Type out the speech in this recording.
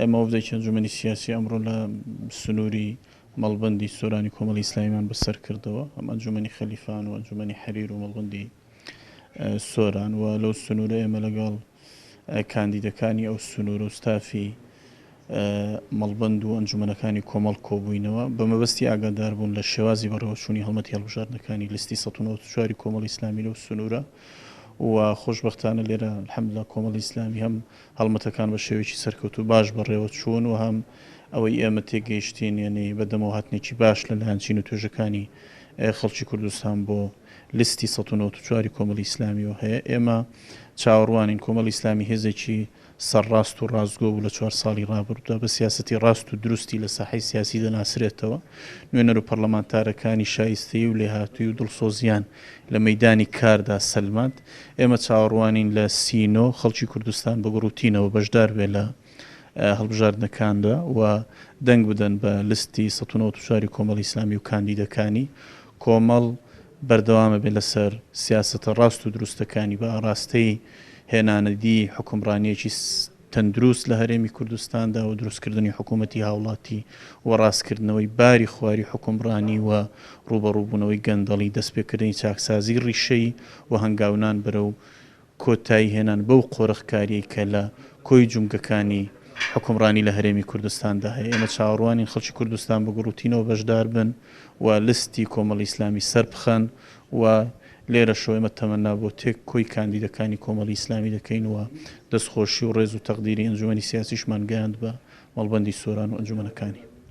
ئێمە وەفدێکی ئەنجومەنی سیاسی ئەمڕۆ لە سنووری مەڵبەندی سۆرانی کۆمەڵی ئیسلامیمان بەسەر کردەوە، ئەم ئەنجومەنی خەلیفان و ئەنجومەنی حەریر و مەڵبەندی سۆران و لەو سنوورە ئێمە لەگەڵ کاندیدەکانی ئەو سنوورە و ستافی مەڵبەند و ئەنجومەنەکانی کۆمەڵ کۆبووینەوە بە مەبەستی ئاگاداربوون لە شێوازی بەڕێوەچوونی هەڵمەتی هەڵبژاردنەکانی لستی 1940 کۆمەڵی ئیسلامی لەو سنوورە و خۆشبەختانە لێرە الحمدللە کۆمەڵی ئیسلامی هەم هەڵمەتەکان بە شێوەیەکی سەرکەوتوو و باش بەڕێوە چوون و هەم ئەوەی ئێمە تێگەیشتین یەنی بەدەمەوە هاتنێکی باش لە لایەن چین و توێژەکانی خەڵکی کوردستان بۆ لیستی سەد و نەوەت و چوار ی کۆمەڵی ئیسلامیەوە هەیە. ئێمە چاوەڕوانین کۆمەڵی ئیسلامی هێزێکی سەرڕاست و ڕاستگۆ بوو لە چوار ساڵی ڕابردوودا بە سیاسەتی ڕاست و دروستی لە ساحەی سیاسی دەناسرێتەوە. نوێنەر و پەڕلەمانتارەکانی شایستەیی و لێهاتوویی و دڵسۆزییان لە مەیدانی کاردا سەلماند. ئێمە چاوەڕوانین لە سی نۆ خەڵکی کوردستان بە گوڕوتینەوە بەشدار بێت لە هەڵبژاردنەکاندا و دەنگ بدەن بە لستی سەد و نەوەد و چوار ی کۆمەڵی ئیسلامی و کاندیدەکانی. کۆمەڵ بەردەوام ئەبێت لەسەر سیاسەتە ڕاست و دروستەکانی بە ئاڕاستەی هێنانەدیی حوکمڕانییەکی تەندروست لە هەرێمی کوردستاندا و دروستکردنی حکوومەتی هاوڵاتی و ڕاستکردنەوەی باری خواری حوکمڕانی و ڕووبەڕووبوونەوەی گەندەڵی، دەستپێکردنی چاکسازیی ڕیشەیی و هەنگاونان بەرەو کۆتاییهێنان بەو قۆرخکارییەی کە لە کۆی جومگەکانی حوکمڕانی لە هەرێمی کوردستاندا هەیە. ئێمە چاوەڕوانین خەڵکی کوردستان بە گوڕوتینەوە بەشداربن و لستی کۆمەڵی ئیسلامی سەربخەن. و لێرەشەوە ئێمە تەمەنا بۆ تێک کۆی کاندیدەکانی کۆمەڵی ئیسلامی دەکەین و دەستخۆشی و ڕێز و تەقدیری ئەنجومەنی سیاسیشمان گەیاند بە مەڵبەندی سۆران و ئەنجومەنەکانی.